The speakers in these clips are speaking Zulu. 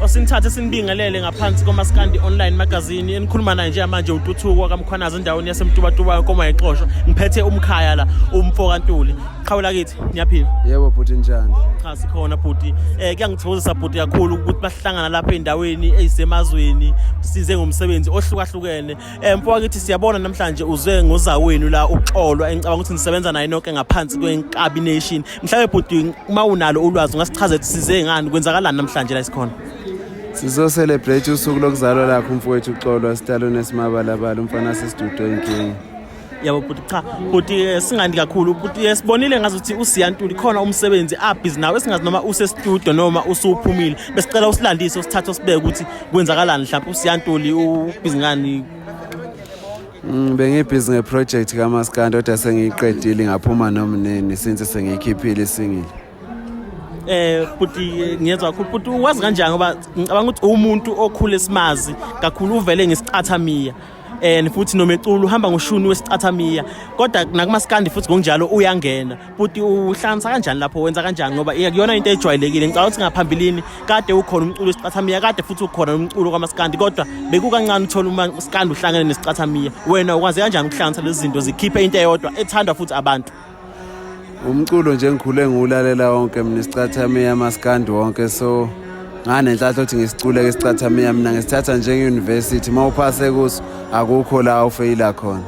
osinithathe sinibingelele ngaphansi komaskandi online magazini enikhuluma naye njengamanje ututhuko wakamkhwanazi endaweni yasemtubatuba koma yexosho ngiphethe umkhaya la umfo kantuli qhawula kithi niyaphila yebo bhuti njani cha sikhona bhuti eh kuyangithokozisa bhuti kakhulu ukuthi bahlangana lapha endaweni eyisemazweni size ngomsebenzi ohlukahlukene eh mfo wakithi siyabona namhlanje uze ngozawenu la uxolwa engicabanga ukuthi nisebenza naye nonke ngaphansi kwenkabi nation mhlawumbe bhuti uma unalo ulwazi ungasichaza ukuthi size ngani kwenzakalani namhlanje la isikhona sizoselebrate usuku lokuzalwa lakho umfowethu uxolo esitalweni esimabalabala umfana sesidudo inkinga yabo bhuti cha bhuti eh, singandi kakhulu bhuti eh, sibonile ngazi ukuthi usiyantuli khona umsebenzi abhizi nawe esingazi noma usestudio noma usuphumile besicela usilandise usithathe usibeke ukuthi kwenzakalani mhlawumbe usiyantuli ubhizi ngani Mm, bengibhizi ngeproject kamaskandi kodwa sengiyiqedile ngaphuma nomnini since sengiyikhiphile isingile eh buti ngiyezwa kakhulu buti wazi kanjani ngoba ngicabanga ukuthi umuntu okhule simazi kakhulu uvele ngesicathamiya and futhi nomeculo uhamba ngoshuni wesicathamiya kodwa nakumaskandi futhi ngokunjalo uyangena bhuti uhlanganisa kanjani lapho wenza kanjani ngoba kuyona into ejwayelekile ngicabanga ukuthi ngaphambilini kade ukhona umculo wesicathamiya kade futhi ukhona umculo kwamasikandi kodwa bekukancane uthola uma usikandi uhlangene nesicathamiya wena ukwaze kanjani ukuhlanganisa lezi zinto zikhiphe into eyodwa ethandwa futhi abantu umculo nje ngikhule ngiwulalela wonke mina isicathamiya amasikandi wonke so nganenhlanhla ukuthi ngisiculeke isicathamiya mina ngisithatha njenge-university uma uphase kuso akukho la ufeyila khona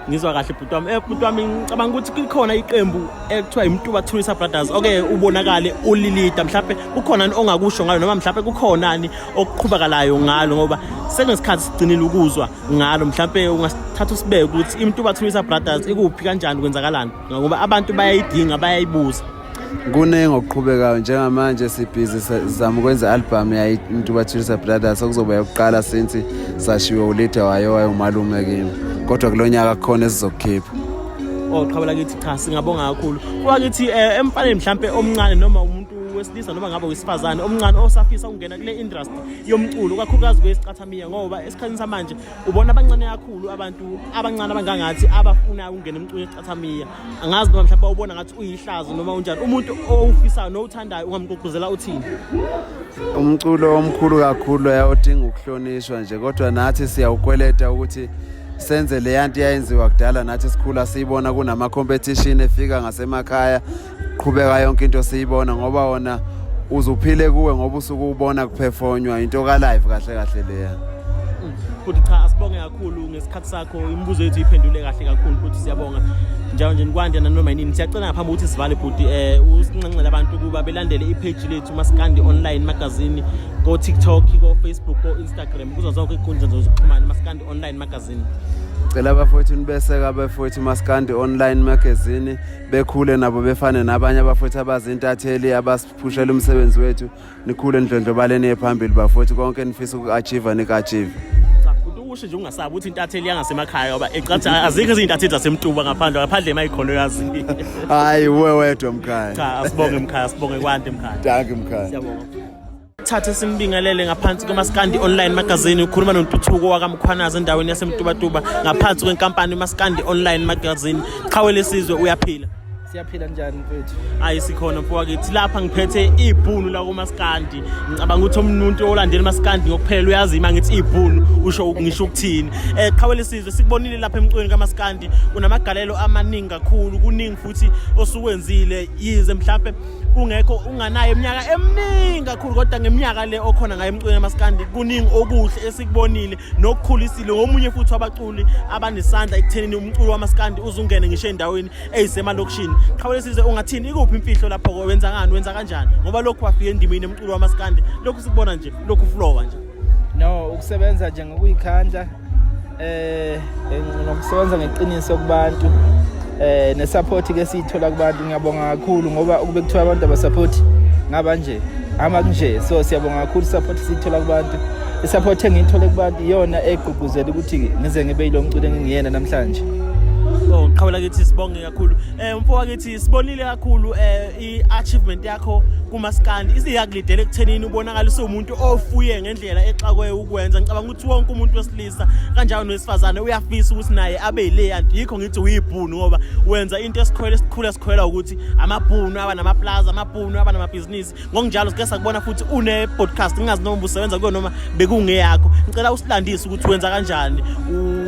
ngizwa kahle bhuti wami eh bhuti wami ngicabanga ukuthi kukhona iqembu ekuthiwa imtuba tourist brothers oke ubonakale ulilida mhlawumbe kukhona ongakusho ngayo noma mhlawumbe kukhonani okuqhubakalayo ngalo ngoba sekunesikhathi sigcinile ukuzwa ngalo mhlawumbe ungasithatha usibeke ukuthi imtuba tourist brothers ikuphi kanjani kwenzakalani ngoba abantu bayayidinga bayayibuza kuningi okuqhubekayo njengamanje sibhizi sizama ukwenza i-albhamu yaintubathulisa brothers okuzoba yokuqala since sashiwe ulida wayo wayomalume kimi kodwa kulo nyaka kukhona esizokukhipha oqhabela oh, kithi cha singabonga kakhulu kuba kithi um eh, emfaneni mhlawumpe omncane noma umuntu wesilisa noma ngabe wesifazane omncane osafisa ukungena kule industry yomculo kakhulukazi kwesicathamiya ngoba esikhathini samanje ubona abancane kakhulu abantu abancane abangangathi abafuna ukungena emculo esicathamiya angazi noma mhlawumbe ubona ngathi uyihlazo noma unjani umuntu owufisayo nowuthandayo ungamgqugquzela uthini umculo omkhulu kakhulu odinga ukuhlonishwa nje kodwa nathi siyawukweleta ukuthi senze leya nto yayenziwa kudala nathi sikhula siyibona kunama-competition efika ngasemakhaya qhubeka yonke into siyibona ngoba wona uzuphile kuwe ngoba usuke ubona kuphefonywa into ka-live kahle kahle leya futhi cha asibonge kakhulu ngesikhathi sakho imibuzo yethu iphendule kahle kakhulu futhi siyabonga njalo nje nikwande nanoma yinini siyacela ngaphambi ukuthi sivale bhuti um usinxenxele abantu ukuba belandele ipheji lethu masikandi online magazini ko-tiktok ko-facebook ko-instagram kuzo zonke iy'nkundla zokuxhumana masikandi online magazini cela abafowethu nibeseka abafowethu masikandi online magazini bekhule nabo befane nabanye abafowethu abazintatheli abasiphushela umsebenzi wethu nikhule nidlondlobaleni ephambili bafowethu konke enifisa uku-achieve niku-achieve usho nje ungasabi uthi intatheli yangasemakhaya ngoba ecathi azikho izintatheli zasemtuba ngaphandle ngaphandle emayikhona uyazi hayi uwe wedwa mkhaya cha asibonge mkhaya asibonge kwande mkhaya danki mkhaya siyabonga thatha esimbingelele ngaphansi komaskandi online magazine ukhuluma nontuthuko wakamkhwanazi endaweni yasemtubatuba ngaphansi kwenkampani umaskandi online magazine qhawe lesizwe uyaphila siyaphila njani mfethu ayi sikhona mfo wakithi lapha ngiphethe ibhunu la kumaskandi ngicabanga ukuthi omuntu olandela maskandi ngokuphela uyazi ima ngithi ibhunu usho ngisho ukuthini eh qhawele sizwe sikubonile lapha emcweni kamaskandi kunamagalelo amaningi kakhulu kuningi futhi osukwenzile yize mhlambe kungekho unganayo iminyaka eminingi kakhulu kodwa ngeminyaka le okhona ngayo emcweni kamaskandi kuningi okuhle esikubonile nokukhulisile ngomunye futhi wabaculi abanesandla ekuthenini umculo wamaskandi uzungene ngisho endaweni eyisemalokishini qhawule size ungathini ikuphi imfihlo lapho ko wenza ngani wenza kanjani ngoba lokhu wafika endimini emculo wamaskandi lokhu sikubona nje lokhu flowa nje no ukusebenza nje ngokuyikhandla eh nokusebenza ngeqiniso kubantu eh nesupport ke siyithola kubantu ngiyabonga kakhulu ngoba ukube kuthiwa abantu abasupport ngaba nje ama kunje so siyabonga kakhulu support siyithola kubantu Isaphothi engiyithole kubantu iyona egqugquzela ukuthi ngize ngibe yilo mculo engingiyena namhlanje. Oh, qhawela kithi sibonge kakhulu. Eh umfo wakithi sibonile kakhulu eh i-achievement yakho kumaskandi. Isiyakulidela ekuthenini ubonakala usumuntu ofuye ngendlela exakwe ukwenza. Ngicabanga ukuthi wonke umuntu wesilisa kanjalo nowesifazane uyafisa ukuthi naye abe yile anti yikho ngithi uyibhunu ngoba wenza into esikhwele sikhula sikhwela ukuthi amabhunu aba namaplaza, amabhunu aba namabhizinisi. ngokunjalo sike sakubona futhi une-podcast ngingazi noma ubusebenza kuyo noma bekungeyakho ngicela usilandise ukuthi wenza kanjani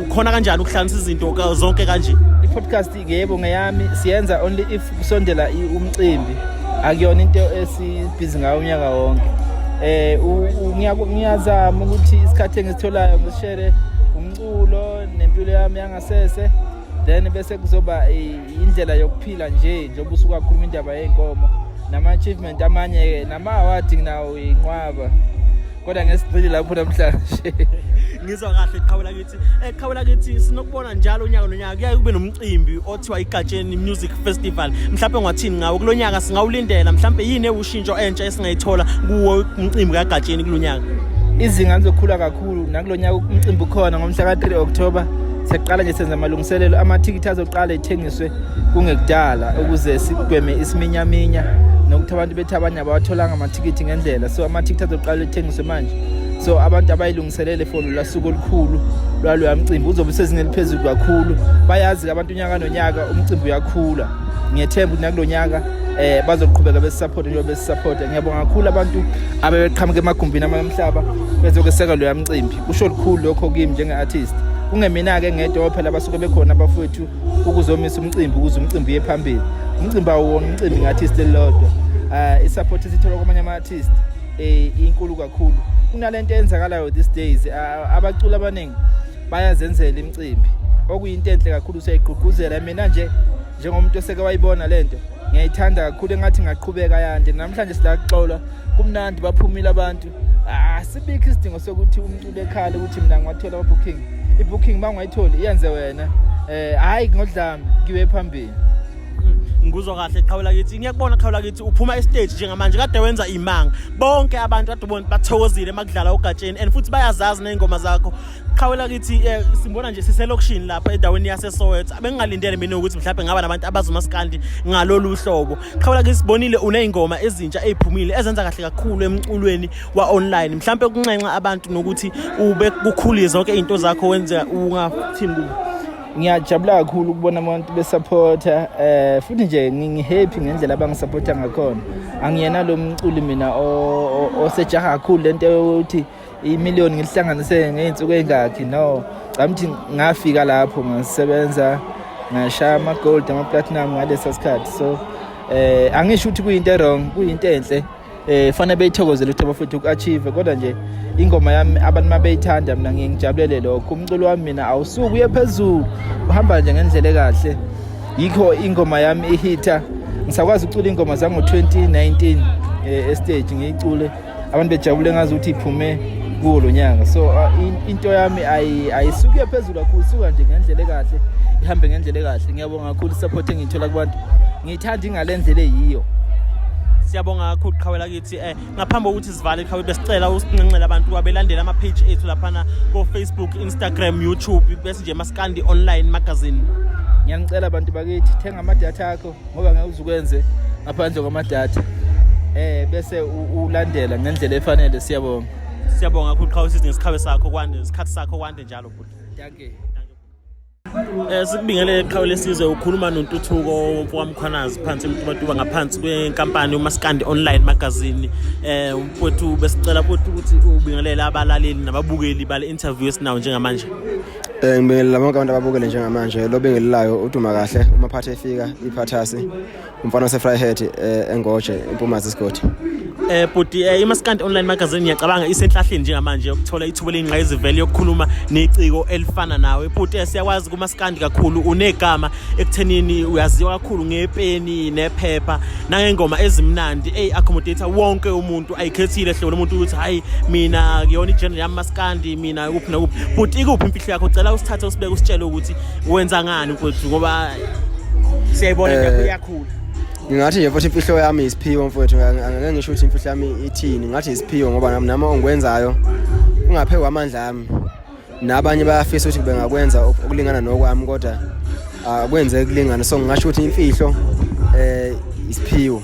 ukhona kanjani ukuhlanganisa izinto zonke kanje i-podcast ngeyebo ngeyami siyenza only if kusondela umcimbi akuyona into esibhizi ngayo unyaka wonke um ngiyazama ukuthi isikhathi engisitholayo ngisishere umculo nempilo yami yangasese then bese kuzoba indlela yokuphila nje njengoba usukakhuluma indaba yey'nkomo nama-achievement amanye-ke nama-awadi nginawo yinqwaba kodwa ngesigcili lapho namhlanje ngizwa kahle qhawela kithi eqhawela eh, kithi sinokubona njalo unyaka nonyaka kuyaye kube nomcimbi othiwa igatsheni music festival mhlawumbe ngwathini ngawo kulo nyaka singawulindela mhlawumbe yini ewushintsho entsha esingayithola kuwo umcimbi kagatsheni kulo nyaka izinga lizokhula kakhulu Khulu nakulo nyaka umcimbi ukhona ngomhla ka-3 October sekuqala nje senza amalungiselelo amathikithi azoqala ethengiswe kungekudala ukuze sigweme isiminyaminya nokuthi abantu bethi abanye abawatholanga amathikithi ngendlela so amathikithi azoqala ethengiswe manje so abantu abayilungiselele for lula suku olukhulu lwaloya mcimbi uzobe usezingeni eliphezulu kakhulu bayazi-ke abantu unyaka nonyaka umcimbi uyakhula ngiyethemba ukuthi nakulo nyaka eh bazoqhubeka besisupport njengoba besisupport ngiyabonga kakhulu abantu abebeqhamuka emagumbini amamhlaba bezokweseka lo yamcimbi kusho likhulu lokho kimi njenge artist kungemina ke ngedwa phela abasuke bekhona abafowethu ukuzomisa umcimbi ukuze umcimbi uye phambili umcimbi awuwona umcimbi nge-artist elilodwa um isupport esithola kwamanye ama-artist um inkulu kakhulu kunale nto eyenzakalayo these days abaculi abaningi bayazenzela imicimbi okuyinto enhle kakhulu siyayigqugquzela mina nje njengomuntu oseke wayibona le nto ngiyayithanda kakhulu engathi ngaqhubeka yande namhlanje silaxola kumnandi baphumile abantu asibikho ah, isidingo sokuthi umculo ekhale ukuthi mina ngiwathola ababooking ibooking uma ungayitholi iyenze wena um hhayi ngodlami ngiwe phambili ngikuzwa kahle qhawula kithi ngiyakubona qhawula kithi uphuma estage njengamanje kade wenza imanga bonke abantu kade ubona bathokozile makudlala ugatsheni and futhi bayazazi nezingoma zakho qhawela kithi eh, simbona nje siselokishini lapha endaweni yaseSoweto bengingalindele mina ukuthi mhlawumbe ngaba nabantu abazomasikandi ngalolu hlobo qhawela kithi sibonile uneyingoma ezintsha eziphumile ezenza kahle kakhulu emculweni wa online mhlawumbe ukunxenxa abantu nokuthi ube kukhulile zonke izinto zakho wenza ungathini kubo ngiyajabula kakhulu ukubona abantu besupporta eh futhi nje ngingihappy ngendlela abangisupporta ngakhona angiyena lo mculi mina osejaha kakhulu lento yokuthi imiliyoni ngilihlanganise ngey'nsuku ey'ngakhi no camthi ngafika lapho ngasebenza ngashaya ama-gold ama-platinum ngalesa sikhathi so eh angisho ukuthi kuyinto erong kuyinto enhle eh fanele beyithokozele ukuthi abafethu uku-achieve kodwa nje ingoma yami abantu uma beyithanda mina ngiye ngijabulele lokho umculo wami mina awusuke uye phezulu uhamba nje ngendlela ekahle yikho ingoma yami ihitha ngisakwazi ukucula ingoma zango-2019 um eh, estage ngiyicule abantu bejabule ngazi ukuthi iphume kuwo lo nyaka so uh, into yami ayisuke phezulu kakhulu suka nje ngendlela ekahle ihambe ngendlela ekahle ngiyabonga kakhulu support engiyithola kubantu ngiyithanda ingalendlela eyiyo siyabonga kakhulu qhawela kithi eh ngaphambi kokuthi sivale qhawe besicela usinxenxele abantu kwabelandela ama page ethu laphana ko Facebook Instagram YouTube bese nje maskandi online magazine ngiyanicela abantu bakithi thenga ama data akho ngoba ngeke uzukwenze ngaphandle kwamadata eh bese ulandela ngendlela efanele siyabonga siyabonga kakhulu qhawe sithi ngesikhabe sakho kwande isikhathi sakho kwande njalo bhuti thank you Eh sikubingelele qhawe lesizwe ukhuluma nontuthuko womfokamkhwanazi phansi emtubatuba ngaphansi kwenkampani uMaskandi Online Magazine eh umfowethu besicela futhi ukuthi ubingelele abalaleli nababukeli bale interview esinawo njengamanje Eh ngibingelela bonke abantu ababukele njengamanje lo bengelilayo uduma kahle uma phathe efika iphathasi umfana ose Fryhead eh, engoje impumazi isigodi eh bhuti eh, imaskandi online magazine ngiyacabanga isenhlahleni njengamanje yokuthola ithuba elingqayizivele yokukhuluma neciko elifana nawe bhuti eh, siyakwazi kumaskandi kakhulu unegama ekuthenini uyaziwa kakhulu ngepeni nephepha nangengoma ezimnandi ey accommodate wonke umuntu ayikhethile hlobo lomuntu ukuthi hayi mina kuyona igenre yami maskandi mina kuphi nokuphi but ikuphi imfihlo yakho cela usithathe usibeke usitshele ukuthi wenza ngani mfowethu ngoba siyayibona eh, nje iyakhula ngingathi nje futhi imfihlo yami isiphiwo mfowethu angeke ngisho ukuthi imfihlo yami ithini ngathi isiphiwo ngoba nami nami ongikwenzayo ungaphekwa amandla ami nabanye bayafisa ukuthi bengakwenza okulingana nokwami kodwa akwenzeki kulingana so ngingasho ukuthi imfihlo eh isiphiwo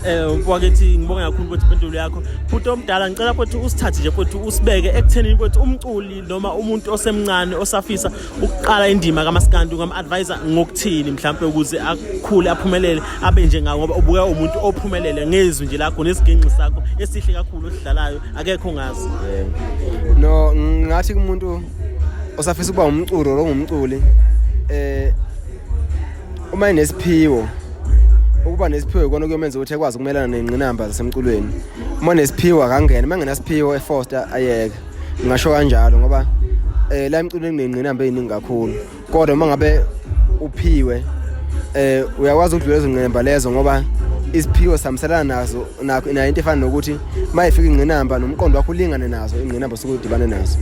eh wakithi ngibonga kakhulu ukuthi impendulo yakho futhi omdala ngicela futhi usithathe nje futhi usibeke ekuthenini ukuthi umculi noma umuntu osemncane osafisa ukuqala indima kamaskandi ungam-advise ngokuthini mhlawumbe ukuze akhule aphumelele abe nje ngawo ngoba ubuka umuntu ophumelele ngezwi nje lakho nesiginxi sakho esihle kakhulu osidlalayo akekho ngazi no ngathi kumuntu osafisa ukuba umculi or ongumculi eh uma inesiphiwo ukuba nesiphiwo ikona kuyomenza ukuthi ekwazi ukumelana nengqinamba zasemculweni uma nesiphiwo akangena uma ngenasiphiwo efoster ayeke ngingasho kanjalo ngoba eh la emculweni kunengqinamba eziningi kakhulu kodwa uma ngabe uphiwe eh uyakwazi ukudlula izingqemba lezo ngoba isiphiwo samselana nazo nakho nayo into efana nokuthi uma ifika ingqinamba nomqondo wakho ulingane nazo ingqinamba osuke udibane nazo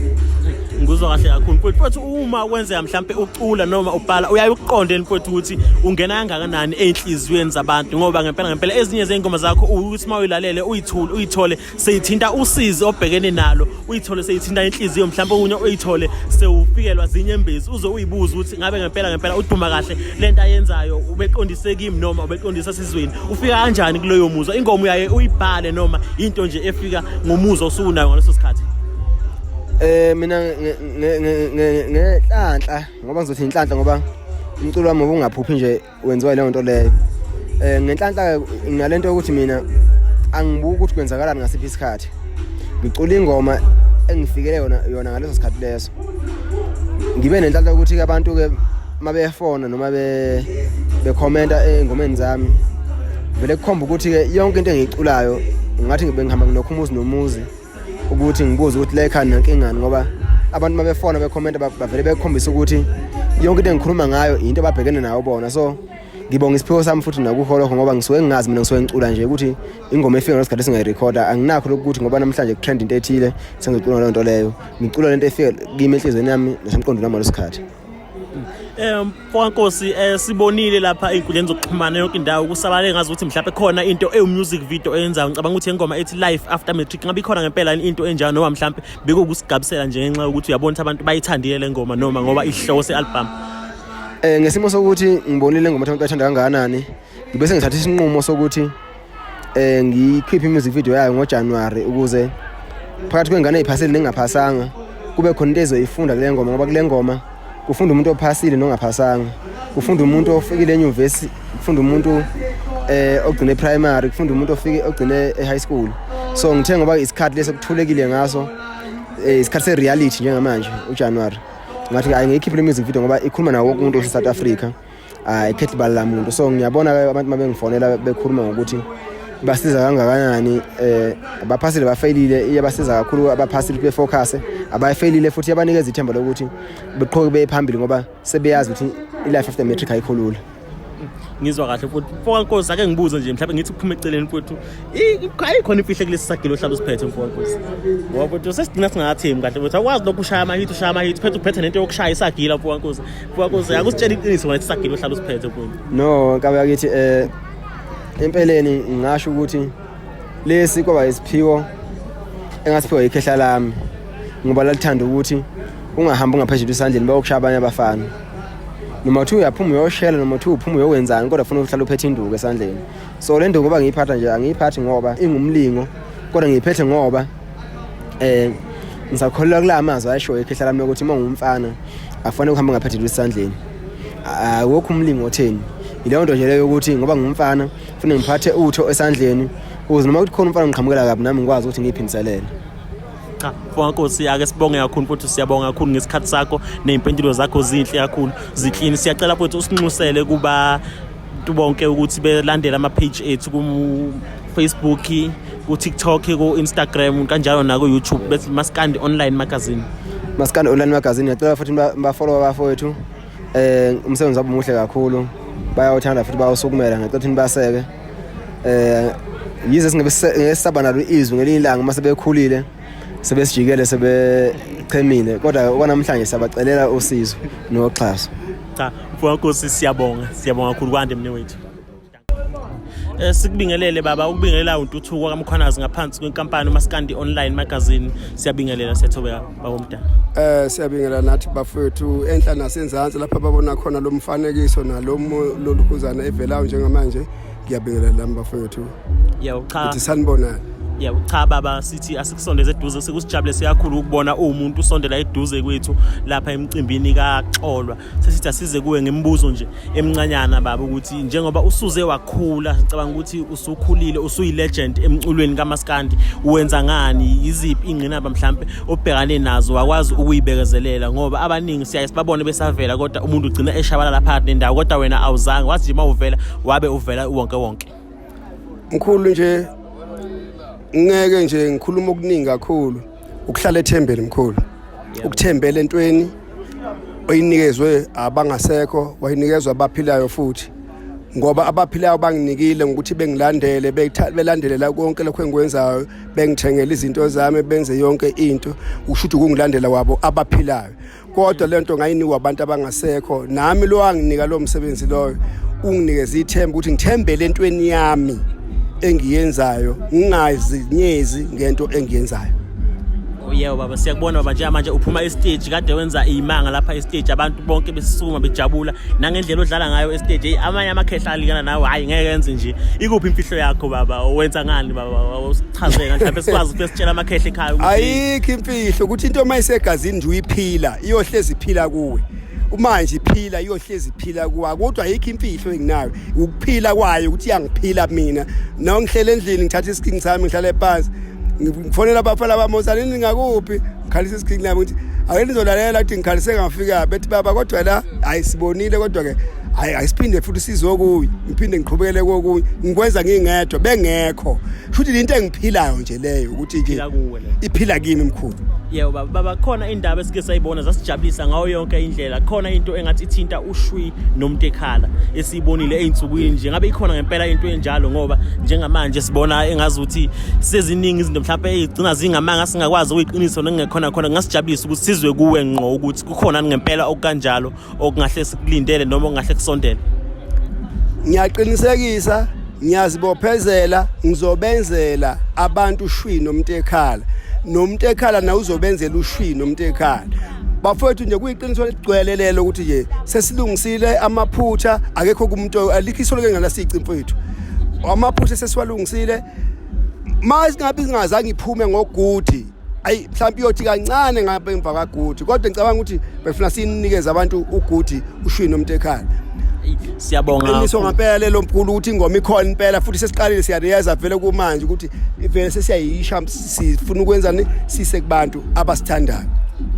ngizwa kahle kakhulu mfowethu futhi uma kwenzeka mhlampe ucula noma ubhala uyaye ukuqonde mfowethu ukuthi ungena kangakanani enhliziyweni zabantu ngoba ngempela ngempela ezinye zeyingoma zakho ukuthi uma uyilalele uyithule uyithole seyithinta usizi obhekene nalo uyithole seyithinta inhliziyo mhlawumbe okunye uyithole sewufikelwa zinyembezi uze uyibuze ukuthi ngabe ngempela ngempela uduma kahle lento ayenzayo ubeqondise kimi noma ubeqondisa sizweni ufika kanjani kuleyo muzwa ingomo yaye uyibhale noma into nje efika ngomuzwa osukunayo ngaleso sikhathi eh mina ngenhlanhla ngoba ngizothi inhlanhla ngoba umculo wami ubungaphuphi nje wenziwa leyo nto leyo um ngenhlanhla nginale nto yokuthi mina angibuki ukuthi kwenzakalani ngasiphi isikhathi ngicula ingoma engifikele yona yona ngaleso sikhathi leso ngibe nenhlanhla ukuthi ke abantu ke mabefona noma be bekhomenta engomeni zami vele kukhomba ukuthi ke yonke into engiyiculayo ngathi ngibe ngihamba nginokhumuzi nomuzi ukuthi ngibuze ukuthi la ekhaya nankingani ngoba abantu uma befona bekhomenta bavele bekhombisa ukuthi yonke into engikhuluma ngayo yinto ababhekene nayo bona so ngibonga isiphiwo sami futhi nakuholokho ngoba ngisuke ngingazi mina ngisuke ngicula nje ukuthi ingoma efika ngesikhathi singayirekhoda anginakho lokuthi ngoba namhlanje kutrend into ethile sengicula leyo nto leyo ngicula lento efika kimi enhliziyweni yami nasemqondweni wami ngalesikhathi Eh mfokankosi eh sibonile lapha inkundleni zokuxhumana yonke indawo kusabalale ngazi ukuthi mhlawumbe khona into ewu music video eyenzayo ngicabanga ukuthi ingoma ethi life after matric ngabe ikhona ngempela into enjalo noma mhlawumbe bekukusigabisela nje ngenxa yokuthi uyabona ukuthi abantu bayithandile le ngoma noma ngoba ihlose album Eh ngesimo sokuthi ngibonile ngoma ukuthi abantu bathanda kangakanani ngibe sengithatha isinqumo sokuthi eh ngikhiphe i-music video yayo ngoJanuary ukuze phakathi kwengane eziphasile nengaphasanga kube khona into ezoyifunda kule ngoma ngoba kule ngoma kufunda umuntu ophasile nongaphasanga kufunda umuntu ofikile enyuvesi kufunda umuntu eh ogcine primary kufunda umuntu ofike ogcine e-high school so ngithe ngoba isikhathi leso kuthulekile ngaso eh, isikhathi se-reality njengamanje ujanuwari ngathi ayi ngiyikhiphe le music video ngoba ikhuluma nawo wonke umuntu osesouth africa ayikhethi bala la muntu so ngiyabona abantu uma bengifonela bekhuluma ngokuthi basiza kangakanani eh abaphasile bafeyilile iyabasiza kakhulu abaphasile befocus abayifeyilile futhi yabanikeza ithemba lokuthi beqhoke bephambili ngoba sebeyazi ukuthi ilife after matric ayikhulula ngizwa kahle futhi mfokankosi ake ngibuze nje mhlawumbe ngithi kuphume eceleni futhi ayikhona imfihle kulesi sagilo ohlala usiphethe mfokankosi ngoba futhi sesigcina singathembi kahle futhi awukwazi lokhu ushaya amahithi ushaya amahithi phethe uphethe nento yokushaya isagila mfokankosi Kwakuze akusitshela iqiniso wena sisagile uhlala usiphethe kuyo. No, kabe yakithi eh empeleni ngingasho ukuthi lesi kwaba isiphiwo engasiphiwa ikhehla lami ngoba lalithanda ukuthi ungahambi ungaphezulu isandleni bayokushaya abanye abafana noma kuthiwa uyaphuma uyoshela noma kuthiwa uphuma uyokwenzani kodwa funa uhlala uphethe induku esandleni so le nduku ngoba ngiyiphatha nje angiyiphathi ngoba ingumlingo kodwa ngiyiphethe ngoba eh ngisakholelwa kula mazwi ayishoyo ekhehla lami lokuthi uma ungumfana akufanele uhambe ngaphathele isandleni awukho umlingo otheni yileyo nto nje leyo yokuthi ngoba ngumfana kufanele ngiphathe utho esandleni ukuze noma kuthi khona umfana ngiqhamukela kabi nami ngikwazi ukuthi ngiyiphindiselele cha fonkosi ake sibonge kakhulu futhi siyabonga kakhulu ngesikhathi sakho ney'mpendulo zakho zinhle kakhulu ziklini siyacela futhi usinxusele kuba abantu bonke ukuthi belandele ama-page ethu ku-facebook ku-tiktok ku-instagram kanjalo naku-youtube bethi maskandi online magazine maskandi online magazine ngiyacela futhi bafolowa bafowethu um eh, umsebenzi wabo muhle kakhulu bayawuthanda futhi bawusukumela ngicela ukuthi nibaseke um yize singeke sisaba nalo izwi ngelinye ilanga uma sebekhulile sebesijikele sebechemile kodwa okwanamhlanje siyabacelela usizo noxhaso cha mfowakho siyabonga siyabonga kakhulu kwande mne wethu Eh, sikubingelele baba ukubingelela untuthuko kamkhwanazi ngaphansi kwenkampani umaskandi online magazine siyabingelela sethobeka bakomdala eh siyabingelela nathi bafethu enhla nasenzansi lapha babona khona lomfanekiso nalomu lolukhuzana evelayo njengamanje ngiyabingelela lami bafowethu yebo cha ukuthi sanibonani yebo cha baba sithi asikusondeze eduze sekusijabule siyakhulu ukubona umuntu usondela eduze kwethu lapha emcimbini kaxolwa sesithi asize kuwe ngemibuzo nje emncanyana baba ukuthi njengoba usuze wakhula ngicabanga ukuthi usukhulile usuyilegend emculweni kamaskandi uwenza ngani yiziphi ingqinamba mhlambe obhekane nazo wakwazi ukuyibekezelela ngoba abaningi siyaye sibabone besavela kodwa umuntu ugcina eshabala lapha nendawo kodwa wena awuzange wathi nje mawuvela wabe uvela uwonke wonke mkhulu nje ngeke nje ngikhuluma okuningi kakhulu ukuhlala ethembeni mkhulu ukuthembela entweni oyinikezwe abangasekho wayinikezwa abaphilayo futhi ngoba abaphilayo banginikile ngokuthi bengilandele belandelela konke lokho engikwenzayo bengithengela izinto zami benze yonke into ukusho ukuthi ukungilandela kwabo abaphilayo kodwa lento ngayinikwa abantu abangasekho nami lo anginika lo msebenzi loyo unginikeza ithemba ukuthi ngithembele entweni yami engiyenzayo ngingazinyezi ngento engiyenzayo Yebo baba siyakubona baba njengamanje uphuma estage kade wenza imanga lapha estage abantu bonke besisukuma bejabula nangendlela odlala ngayo estage hey amanye amakhehla alikana nawe hayi ngeke yenze nje ikuphi imfihlo yakho baba owenza ngani baba usichaze ngathi mhlawumbe sikwazi ukuthi sitshela amakhehla ekhaya ukuthi ayikho Ihlo ukuthi into uma isegazini nje uyiphila iyohlezi iphila kuwe. Manje iphila iyohlezi iphila kuwa kodwa ayikho imfihlo enginayo ukuphila kwayo ukuthi iyangiphila mina. Nawo ngihlele endlini ngithatha isikingi sami ngihlale ephansi. Ngifonela abafana bami osani ningakuphi? Ngikhalisa isikingi nami ukuthi ake nizolalela ukuthi ngikhalise ngafika bethi baba kodwa la ayisibonile kodwa ke hayi ayisiphinde futhi sizokuyi ngiphinde ngiqhubekele kokunye ngikwenza ngingedwa bengekho futhi into engiphilayo nje leyo ukuthi nje iphila kimi mkhulu yebo baba baba khona indaba esike sayibona zasijabulisa ngayo yonke indlela khona into engathi ithinta ushwi nomuntu ekhala esiyibonile ezinsukwini nje ngabe ikhona ngempela into enjalo ngoba njengamanje sibona engazuthi seziningi izinto mhlawumbe ezigcina zingamanga singakwazi ukuyiqinisa nengekhona khona ngasijabulisa ukuthi sizwe kuwe ngqo ukuthi kukhona ngempela okukanjalo okungahle sikulindele noma okungahle kusondele ngiyaqinisekisa ngiyazibophezela ngizobenzela abantu ushwi nomuntu ekhala nomuntu ekhala na uzobenzela ushwi nomuntu ekhala bafowethu nje kuyiqiniso ligcwele lelo ukuthi nje sesilungisile amaphutha akekho kumuntu alikho isolo ke ngalasici mfowethu amaphutha sesiwalungisile manje ngabe ingazange iphume ngogudi ayi mhlawumbe iyothi kancane ngapha emva kaguti kodwa ngicabanga ukuthi befuna sinikeze abantu uguti ushwini umuntu ekhaya siyabonga qiniso ngempela lo mkhulu ukuthi ingoma ikhona impela futhi sesiqalile siyareyeza vele kumanje ukuthi ivele sesiyayisha sifuna ukwenza sise kubantu abasithandayo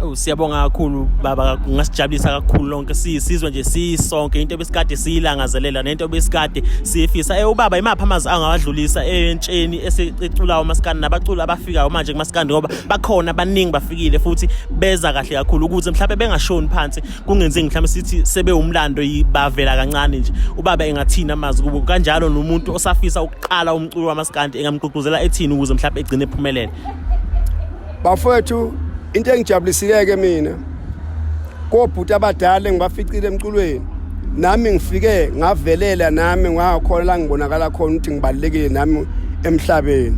Oh siyabonga kakhulu baba ngasijabulisa kakhulu lonke sisizwe nje sisonke into ebesikade siyilangazelela nento ebesikade siyifisa eh ubaba imaphi amazi angawadlulisa entsheni esiculayo masikani nabaculi fikayo manje kumaskandi ngoba bakhona abaningi bafikile futhi beza kahle kakhulu ukuze mhlawumbe bengashoni phansi kungenzeki mhlawumbe sithi sebewumlando bavela kancane nje ubaba engathini amazi kubo kanjalo nomuntu osafisa ukuqala umculo wamaskandi engamgqugquzela ethini ukuze mhlawumbe egcine ephumelele bafowethu into engijabulisile ke mina kobhuti abadala engibaficile emculweni nami ngifike ngavelela nami ngakhona la ngibonakala khona ukuthi ngibalekile nami emhlabeni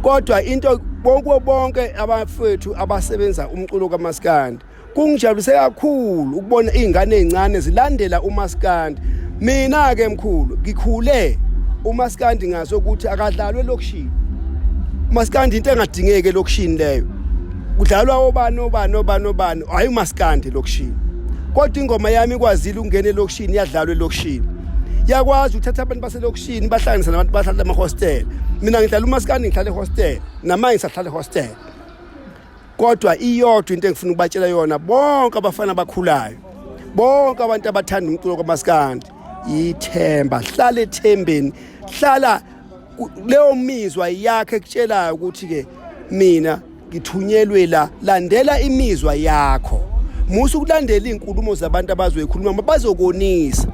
kodwa into bonke bonke abafethu abasebenza umculo kamaskandi kungijabulise kakhulu ukubona izingane ezincane zilandela umaskandi mina ke mkhulu ngikhule umaskandi ngaso ukuthi akadlalwe lokushini umaskandi into engadingeke lokushini leyo kudlalwa obani obani obani obani hayi umaskandi elokishini kodwa ingoma yami ikwazile ukungena elokishini yadlalwa elokishini yakwazi ukuthatha abantu baselokishini bahlanganisa nabantu bahlala emahostela mina ngidlala umaskandi ngihlala ehostela namanye ngisahlala ehostela kodwa iyodwa into engifuna ukubatshela yona bonke abafana abakhulayo bonke abantu abathanda umculo kwamaskandi yithemba hlala ethembeni hlala leyo mizwa yakhe ekutshelayo ukuthi ke mina ngithunyelwe la landela imizwa yakho musa ukulandela izinkulumo zabantu abazoyikhuluma mabazokonisa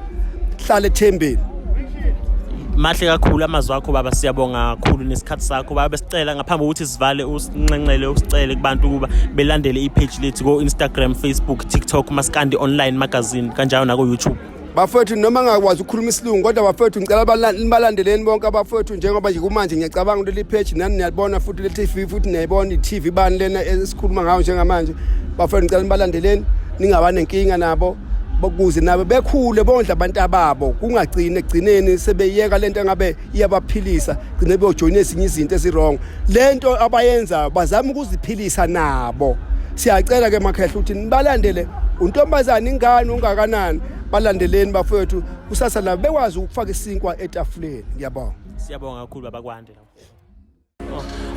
hlala ethembeni mahle kakhulu amazwi akho baba siyabonga kakhulu nesikhathi sakho baba besicela ngaphambi kokuthi sivale usinxenxele usicele kubantu ukuba belandele ipage lethu ko-instagram facebook tiktok maskandi online magazine kanjalo naku-youtube bafowethu noma ngakwazi ukukhuluma isilungu kodwa bafowethu ngicela balandeleni bonke abafowethu njengoba nje kumanje ngiyacabanga ukuthi leli page nani niyalibona futhi le TV futhi niyayibona i-TV bani lena esikhuluma ngayo njengamanje bafowethu ngicela nibalandeleni ningaba nenkinga nabo bokuze nabo bekhule bondla abantu ababo kungagcini ekugcineni sebeyeka lento engabe iyabaphilisa gcine beyojoyina ezinye izinto ezirong le nto abayenzayo bazama ukuziphilisa nabo siyacela ke makhehla ukuthi nibalandele untombazane ingane ungakanani balandeleni bafowethu kusasa labo bekwazi ukufaka isinkwa etafuleni ngiyabonga siyabonga kakhulu babakwande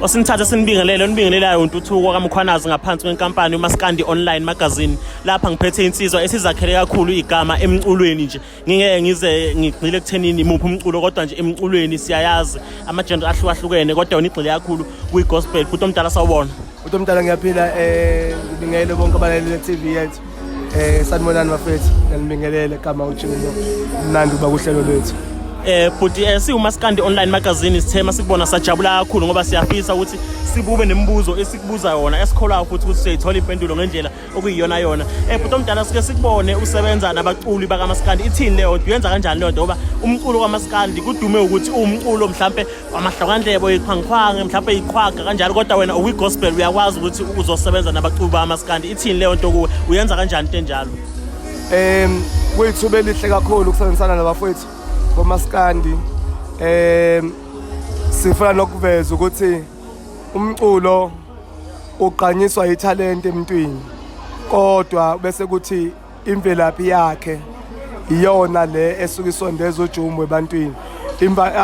osinithatha sinibingelele onibingelelayo untuthuko kamkhwanazi ngaphansi kwenkampani umaskandi online magazine lapha ngiphethe insizwa esizakhele kakhulu igama emculweni nje ngingeke ngize ngigxile ekuthenini imuphi umculo kodwa nje emculweni siyayazi amajenda ahlukahlukene kodwa unigxile kakhulu kwi-gospel futhi omdala sawubona Uthi mdala ngiyaphila eh ngibingelele bonke abalaleli be-TV yethu. Eh sanibonani bafethu. Nginibingelele kama uJingo. Mnandi uba kuhlelo lwethu. Eh bhuti eh siwumaskandi online magazine sithema sikubona sajabula kakhulu ngoba siyafisa ukuthi sibube nemibuzo esikubuza yona esikholwayo futhi ukuthi siyithola impendulo ngendlela okuyiyona yona eh bhuti omdala sike sikubone usebenza nabaculi bakamaskandi ithini leyo uyenza kanjani leyo nto ngoba umculo kwamaskandi kudume ukuthi uwumculo mhlampe wamahlokandlebo yiqhwangiqhwangi mhlampe yiqhwaga kanjalo kodwa wena uwi-gospel uyakwazi ukuthi uzosebenza nabaculi bakamaskandi ithini leyo nto kuwe uyenza kanjani into enjalo um kuyithuba elihle kakhulu ukusebenzisana nabafowethu bomaskandi um sifuna nokuveza ukuthi umculo ugqanyiswa yithalente emntwini kodwa bese kuthi imvelaphi yakhe iyona le esuke isondeza ujumu ebantwini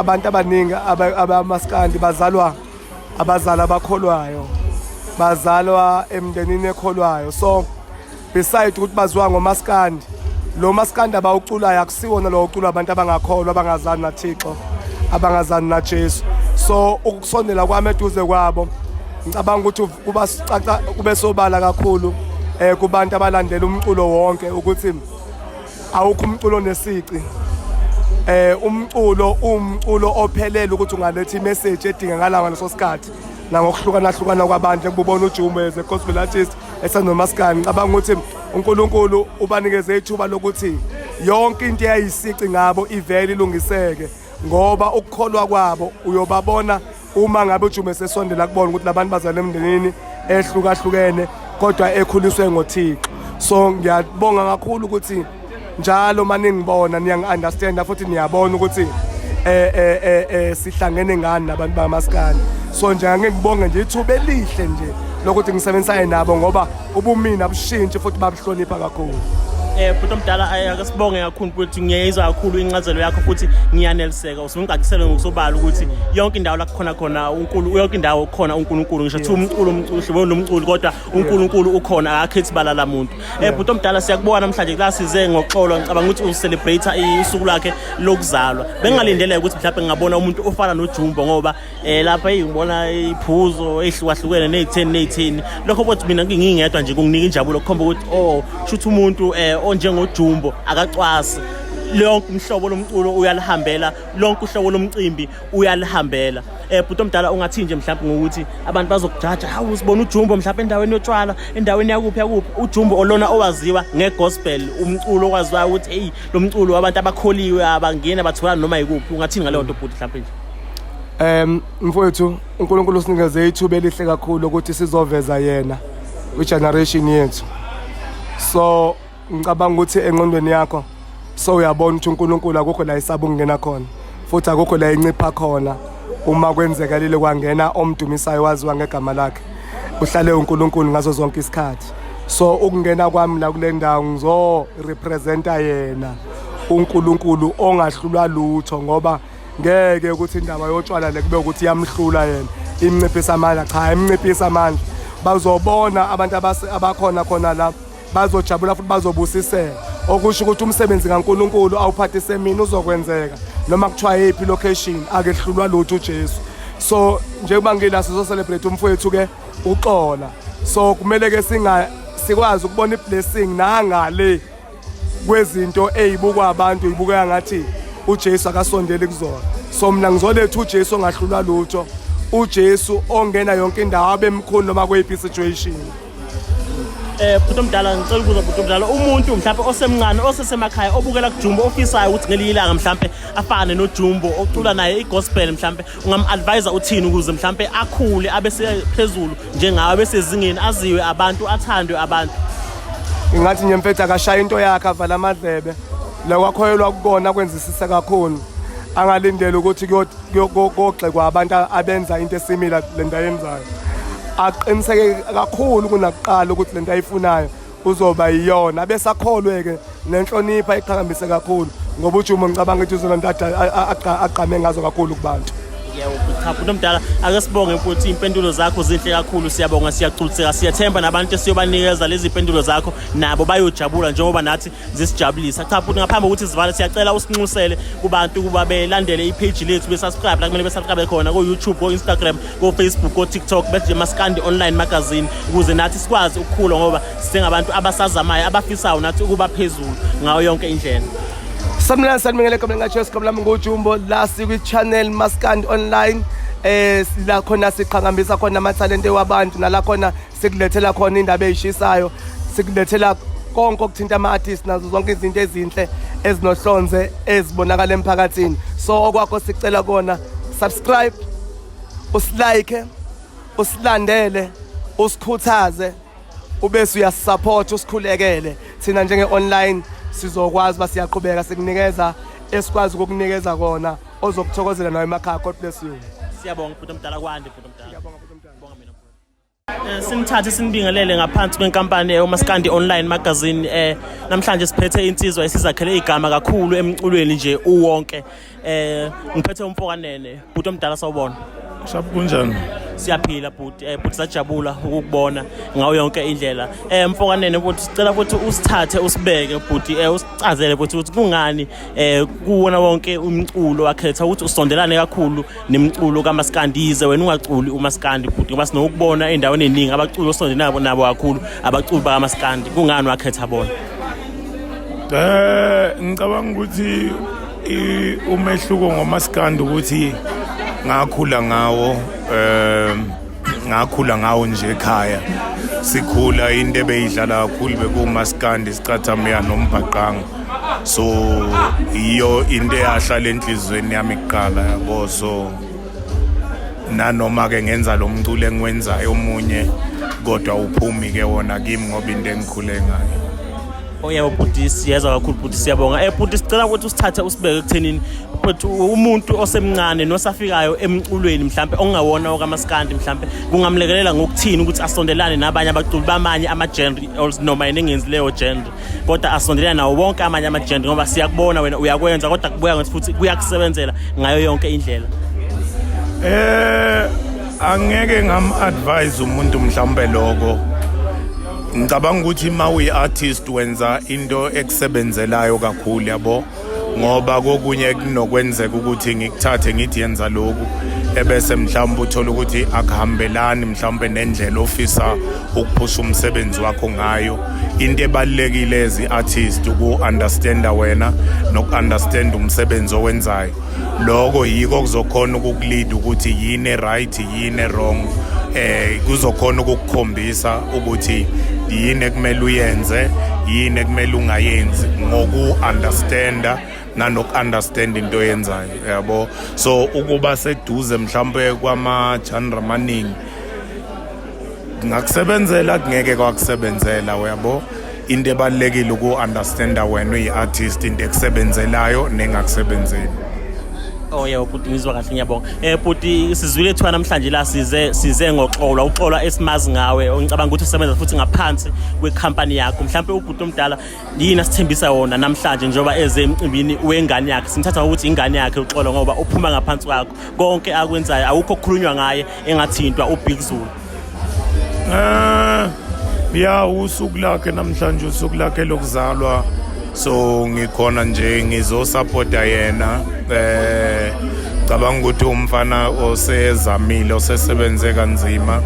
abantu abaningi abamaskandi bazalwa abazali abakholwayo bazalwa emndenini ekholwayo so beside ukuthi baziwa ngomaskandi lo maskandi abawuculayo akusiwona lo uculwa abantu abangakholwa abangazani nathixo abangazani najesu so ukusondela kwami eduze kwabo ngicabanga ukuthi kuba sicaca kube sobala kakhulu eh kubantu abalandela umculo wonke ukuthi awukho umculo nesici eh umculo umculo ophelele ukuthi ungaletha imessage edingakalayo ngaleso sikhathi nangokuhlukana hlukana kwabantu ekubona uJumbe as a gospel artist esenomaskani cabanga ukuthi uNkulunkulu ubanikeze ithuba lokuthi yonke into eyayisici ngabo ivele ilungiseke ngoba ukukholwa kwabo uyobabona uma ngabe ujume sesondela kubona ukuthi labantu bazalwa emndenini ehlukahlukene kodwa ekhuliswe ngoThixo so ngiyabonga kakhulu ukuthi njalo uma ningibona niyangi-understanda futhi niyabona ukuthi um eh, um eh, um eh, um sihlangene ngani nabantu bamasikane so nje angeke ngibonge nje ithuba elihle nje lokuthi ngisebenzisane nabo ngoba ubumina bushintshi futhi babuhlonipha kakhulu eh bhuti omdala akasibonge kakhulu ukuthi ngiyayizwa kakhulu incazelo yakho futhi ngiyaneliseka usungigaqisele ngokusobala ukuthi yonke indawo la kukhona khona uNkulunkulu yonke indawo khona uNkulunkulu ngisho kuthiwa umculo umculo lo mculo kodwa uNkulunkulu ukhona akakhethi balala muntu Eh bhuti omdala siyakubona namhlanje la size ngoxolo ngicabanga ukuthi u celebrate isuku lakhe lokuzalwa. Bengingalindele ukuthi mhlawumbe ngingabona umuntu ofana noJumbo ngoba eh lapha ngibona iphuzo ehlukahlukene nezitheni nezithini. Lokho bothi mina ngingingedwa nje kunginika injabulo kukhomba ukuthi oh shuthi umuntu eh onjengoJumbo akacwasi lonke umhlobo lomculo uyalihambela lonke uhlobo lomcimbi uyalihambela eh bhuti omdala ungathi nje mhlawumbe ngokuthi abantu bazokujaja hawu sibona ujumbo mhlawumbe endaweni yotshwala endaweni yakuphi yakuphi ujumbo olona owaziwa ngegospel umculo okwaziwa ukuthi hey lo mculo wabantu abakholiwe abangena bathola noma yikuphi ungathini ngaleyo nto bhuti mhlawumbe nje Um mfowethu uNkulunkulu usinikeze ithuba elihle kakhulu ukuthi sizoveza yena kwi-generation yethu so ngicabanga ukuthi enqondweni yakho so uyabona ukuthi uNkulunkulu akukho la isaba ukungena khona futhi akukho la incipha khona uma kwenzekalile kwangena omdumisayo waziwa ngegama lakhe uhlale uNkulunkulu ngazo zonke isikhathi so ukungena kwami la kule ndawo ngizo representa yena uNkulunkulu ongahlulwa lutho ngoba ngeke ukuthi indaba yotshwala le kube ukuthi yamhlula yena imnciphisa amandla cha imnciphisa amandla bazobona abantu abakhona khona lapho bazojabula futhi bazobusiseka okusho ukuthi umsebenzi kaNkulunkulu awuphathise mina uzokwenzeka noma kuthiwa yiphi location akehlulwa lutho uJesu so njengoba ngila sizo celebrate umfowethu ke uxola so kumele ke singa sikwazi ukubona iblessing nangale kwezinto ezibukwa abantu izibukeka ngathi uJesu akasondeli kuzona so mina ngizoletha uJesu ongahlulwa lutho uJesu ongena yonke indawo abemkhulu noma kuyiphi situation eh bhuti omdala ngicela ukubuza bhuti omdala umuntu mhlawumbe osemncane osesemakhaya obukela kujumbo ofisayo ukuthi ngelinye ilanga mhlawumbe afane nojumbo ocula naye igospel mhlawumbe ungam-advisa uthini ukuze mhlawumbe akhule abe sephezulu njengawe abe sezingeni aziwe abantu athandwe abantu ingathi nje mfethu akashaya into yakhe avala amadlebe lokwakhoyelwa kukona kwenzisisa kakhulu angalindele ukuthi kuyogxekwa abantu abenza into esimila le nto ayenzayo aqiniseke kakhulu kunakuqala ukuthi le nto ayifunayo uzoba yiyona abesakholwe-ke nenhlonipho ayiqhakambise kakhulu ngoba ujumo ngicabanga ukuthi uzona nto agqame ngazo kakhulu kubantu ngiyawukhapha umuntu omdala ake sibonge futhi impendulo zakho zinhle kakhulu siyabonga siyagculiseka siyathemba nabantu esiyobanikeza lezi mpendulo zakho nabo bayojabula njengoba nathi zisijabulisa cha futhi ngaphambi kokuthi zivale siyacela usinxusele kubantu ukuba belandele ipage lethu besubscribe la kumele besubscribe khona ko-youtube ko-instagram ko-facebook ko-tiktok beje maskandi online magazine ukuze nathi sikwazi ukukhula ngoba singabantu abasazamayo abafisayo nathi ukuba phezulu ngayo yonke indlela samlani sanibingelele gomela ngatsho sigome lami ngujumbo la sikwi-channel maskandi online eh la khona siqhakambisa khona amathalente wabantu nala khona sikulethela khona indaba eyishisayo sikulethela konke okuthinta ama-artist nazo zonke izinto ezinhle ezinohlonze ezibonakala emphakathini so okwakho sicela kona subscribe usilike usilandele usikhuthaze ubese uyasisupport usikhulekele thina njenge-online sizokwazi uba siyaqhubeka sikunikeza esikwazi ukukunikeza kona ozokuthokozela nawe emakhaya god bless you siyabonga bhuti omdala kwande bhuti omdala Eh, simthathe simbingelele ngaphansi kwenkampani umaskandi online magazine eh namhlanje siphethe insizwa esizakhele igama kakhulu emculweni nje uwonke eh ngiphethe umfokanene bhuti omdala sawubona Shap kunjani? Siyaphila bhuti, eh bhuti sajabula ukukubona ngawo yonke indlela. Eh mfokanene bhuti sicela ukuthi usithathe usibeke bhuti eh usicazele bhuti ukuthi kungani eh kuwona wonke umculo wakhetha ukuthi usondelane kakhulu nemculo kamaskandi yize wena ungaculi umaskandi bhuti ngoba sinokubona endaweni eningi abaculi osonde nabo nabo kakhulu abaculi bakamaskandi kungani wakhetha bona eh ngicabanga ukuthi umehluko ngomaskandi ukuthi ngakhula ngawo um ngakhula ngawo nje ekhaya sikhula into ebeyidlala kakhulu bekuwumaskandi isicathamya nombhaqanga so yiyo into eyahlala enhliziyweni yami kuqala yabo so nanoma-ke ngenza lo mculo engiwenzayo omunye kodwa uphumi-ke wona kimi ngoba into engikhule ngayo oyebo bhuti siyeza kakhulu bhuti siyabonga eh bhuti sicela ukuthi usithathe usibeke ekuthenini but umuntu osemncane nosafikayo emculweni mhlambe ongawona okamaskandi mhlambe kungamlekelela ngokuthini ukuthi asondelane nabanye abaculi bamanye ama-genre noma yena engenzi leyo genre kodwa asondelane nawo wonke amanye ama-genre ngoba siyakubona wena uyakwenza kodwa kubuya ngathi futhi kuyakusebenzela ngayo yonke indlela eh angeke ngam-advise umuntu mhlawumbe loko ngicabanga ukuthi uma uyi-artist wenza into ekusebenzelayo kakhulu yabo ngoba kokunye kunokwenzeka ukuthi ngikuthathe ngithi yenza lokhu ebese mhlawumbe uthola ukuthi akuhambelani mhlawumbe nendlela ofisa ukuphusha umsebenzi wakho ngayo into ebalulekile ezi-artist uku-understanda wena noku-understanda umsebenzi owenzayo lokho yiko kuzokhona ukukulida ukuthi yini right yini wrong eh kuzokhona ukukukhombisa ukuthi yini ekumele uyenze yini ekumele ungayenzi ngoku understanda nanoku-understand into yenzayo yabo so ukuba seduze mhlawumbe kwama-genre amaningi kungakusebenzela kungeke kwakusebenzela uyabo into ebalulekile uku-understanda wena uyi-artist into ekusebenzelayo nengakusebenzeli Oh yeah ubhuti ngizwa kahle ngiyabonga. Eh bhuti sizwile ethiwa namhlanje la size size ngoxolwa uxolwa esimazi ngawe ongicabanga ukuthi usebenza futhi ngaphansi kwecompany yakho. Mhlawumbe ubhuti omdala yini asithembisa wona namhlanje njengoba eze emcimbini wengane yakhe. Simthatha ukuthi ingane yakhe uxolwa ngoba uphuma ngaphansi kwakho. Konke akwenzayo awukho okukhulunywa ngaye engathintwa ubig zulu um ya usuku lakhe namhlanje usuku lakhe lokuzalwa so ngikhona nje ngizosapota yena eh cabanga ukuthi umfana osezamile osesebenze kanzima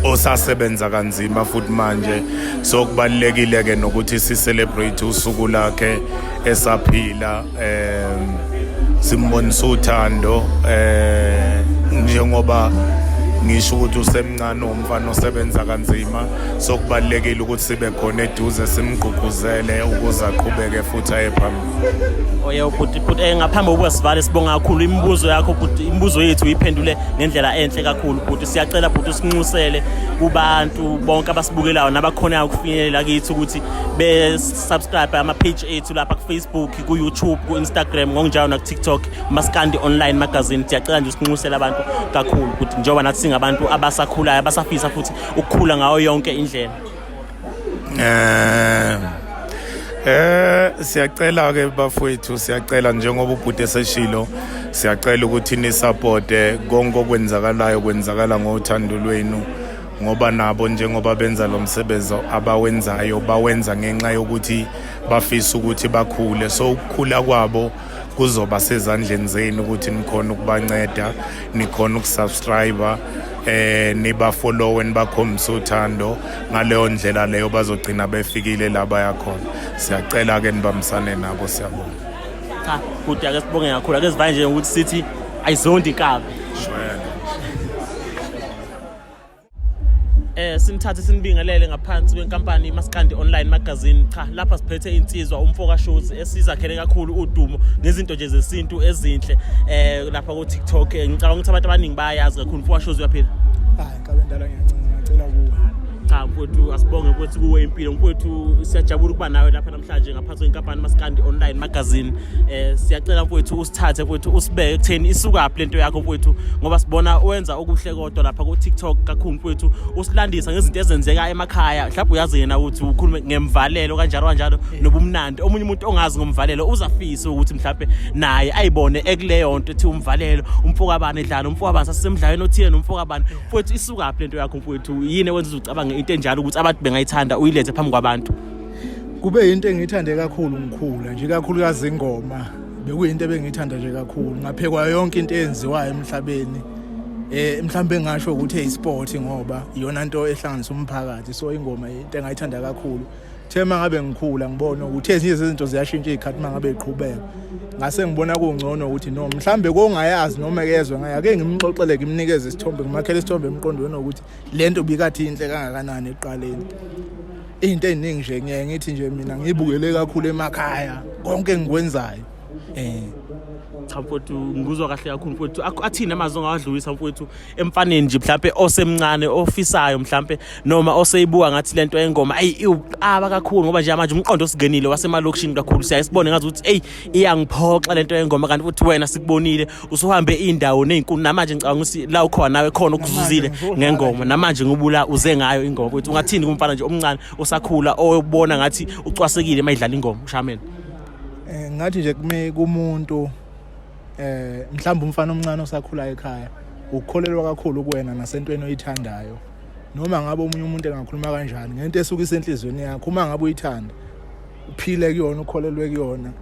osasebenza kanzima futhi manje so kubalekile ke nokuthi si celebrate usuku lakhe esaphila um simbonisa uthando um njengoba ngisho ukuthi usemncane umfana osebenza kanzima so kubalulekile ukuthi sibe khona eduze simgqugquzele ukuze aqhubeke futhi aye phambili oye ubhuti bhuti eh, ngaphambi kokuba sivale sibonga kakhulu imibuzo yakho bhuti imibuzo yethu uyiphendule ngendlela enhle kakhulu bhuti siyacela bhuti usinxusele kubantu bonke abasibukelayo nabakhonayo ukufinyelela kithi ukuthi subscribe ama-page ethu lapha kufacebook ku-youtube ku-instagram ngokunjalo nakutiktok maskandi online magazine siyacela nje usinxusela abantu kakhulu ukuthi njengoba nathi singabantu abasakhulayo abasafisa futhi ukukhula ngayo yonke indlela eh Eh siyacela ke bafowethu siyacela njengoba ubhuti eseshilo siyacela ukuthi ni support konke okwenzakalayo kwenzakala ngothando lwenu ngoba nabo njengoba benza lo msebenzi abawenzayo bawenza ngenxa yokuthi bafisa ukuthi bakhule so ukukhula kwabo kuzoba sezandleni zenu ukuthi nikhona ukubanceda nikhona ukusubscribe eh niba follow nibakhombisa uthando ngaleyo ndlela leyo bazogcina befikile la bayakhona siyacela ke nibambisane nabo siyabonga cha kude ake sibonge kakhulu ake sivanje ukuthi sithi ayizondi kabi shwele eh simthathe simbingelele ngaphansi kwenkampani iMaskandi Online Magazine cha lapha siphethe insizwa umfoka Shozi esizakhele kakhulu udumo ngezinto nje zesintu ezinhle eh lapha ku TikTok eh, ngicabanga ukuthi abantu abaningi bayazi kakhulu umfoka Shozi uyaphila hayi kabe ndala ngiyancela ngicela kuwe cha mfowethu asibonge ukuthi kuwe impilo mfowethu siyajabula ukuba nawe lapha mhlanje ngaphansi kwenkampani maskandi online magazine eh siyacela mfowethu usithathe mfowethu usibeke ekutheni isukaphi lento yakho mfowethu ngoba sibona wenza okuhle kodwa lapha ku TikTok kakhulu mfowethu usilandisa ngezinto ezenzeka emakhaya mhlawumbe uyazi yena ukuthi ukhulume ngemvalelo kanjalo kanjalo nobumnandi omunye umuntu ongazi ngomvalelo uzafisa ukuthi mhlawumbe naye ayibone ekuleyo nto ethi umvalelo umfokabani edlala umfokabani sasemdlalweni othile nomfokabani mfowethu isukaphi lento yakho mfowethu yini ewenza ucabange into enjalo ukuthi abantu bengayithanda uyileze phambi kwabantu kube yinto engiyithande kakhulu ngikhula nje kakhulukazi ingoma bekuyinto ebengiyithanda nje kakhulu ngaphekwa yonke into eyenziwayo emhlabeni eh mhlawumbe ngasho ukuthi eyisport ngoba iyona nto ehlanganisa umphakathi so ingoma into engayithanda kakhulu the mangabe ngikhula ngibona ukuthi ezinye zezinto ziyashintsha izikhathi mangabe iqhubeka ngase ngibona kungcono ukuthi no mhlambe kongayazi noma kezwe ngaye ake ngimxoxele ngimnikeze isithombe ngimakhele isithombe emqondweni ukuthi lento bikathi inhle kangakanani eqaleni into eziningi nje ngiye ngithi nje mina ngibukele kakhulu emakhaya konke engikwenzayo eh cha mfowethu ngikuzwa kahle kakhulu mfowethu athini amazwi ongawadlulisa mfowethu emfaneni nje mhlampe osemncane ofisayo mhlampe noma oseyibuka ngathi lento engoma ayi iwuqaba kakhulu ngoba nje manje umqondo osingenile wasemalokishini kakhulu siyayisibone ngazi ukuthi eyi iyangiphoxa lento yengoma kanti futhi wena sikubonile usuhambe indawo nezinkulu namanje ngicabanga ukuthi la ukhona nawe khona okuzuzile ngengoma namanje ngubula uze ngayo ingoma ukuthi ungathini kumfana nje omncane osakhula oyobona ngathi ucwasekile mayidlala ingoma ushameni eh ngathi nje kume kumuntu eh mhlawumbe umfana omncane osakhula ekhaya ukukholelwa kakhulu kuwena nasentweni oyithandayo noma ngabe omunye umuntu engakhuluma kanjani ngento esuka isenhlizweni yakho uma ngabe uyithanda uphile kuyona ukholelwe kuyona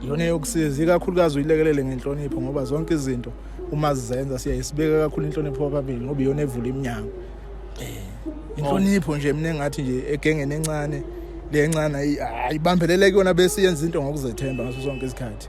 yona yokusiza ikakhulukazi uyilekelele ngenhlonipho ngoba zonke izinto uma zizenza siyayisibeka kakhulu inhlonipho kwababili ngoba iyona evula iminyango um inhlonipho nje mina engathi nje egengeni encane le ncane ayibambelele kuyona bese yenza into ngokuzethemba ngaso sonke isikhathi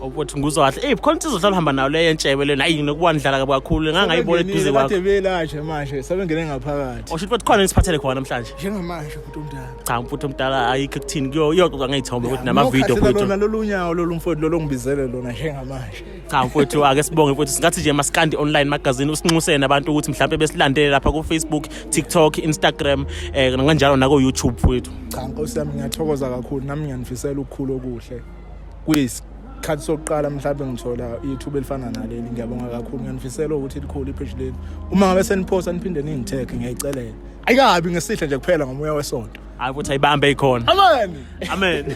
ukuthi nguzwa kahle eyi khona insizwa hlala uhamba nayo leyo entshebe lena ayi nokuwandlala kabi kakhulu ngangayibona eduze kwakho sebengene manje sebengaphakathi osho ukuthi khona nisiphathele khona namhlanje njengamanje futhi umdala cha mfuthu omdala ayikho kuthini kuyo iyoxoxa ngey'thombe ukuthi namavidiyo Nokhathela mfuthu lona lolu nyawo lolu mfowethu lolu ongibizele lona njengamanje cha mfowethu ake sibonge mfowethu singathi nje masikandi online magazine usinxusene abantu ukuthi mhlawumbe besilandele lapha ku-facebook tiktok instagram um kanjalo nako-youtube mfowethu cha nkosi yami ngiyathokoza kakhulu nami ngiyanifisela ukukhulu okuhle kuyisikhathi sokuqala mhlawumbe ngithola ithuba elifana naleli ngiyabonga kakhulu ngiyanifisela ukuthi likhulu ipheshi leli uma ngabe seniphosa niphinde ningithekhe ngiyayicelela ayikabi ngesihle nje kuphela ngomoya wesonto hayi ukuthi ayibambe ikhona amen amen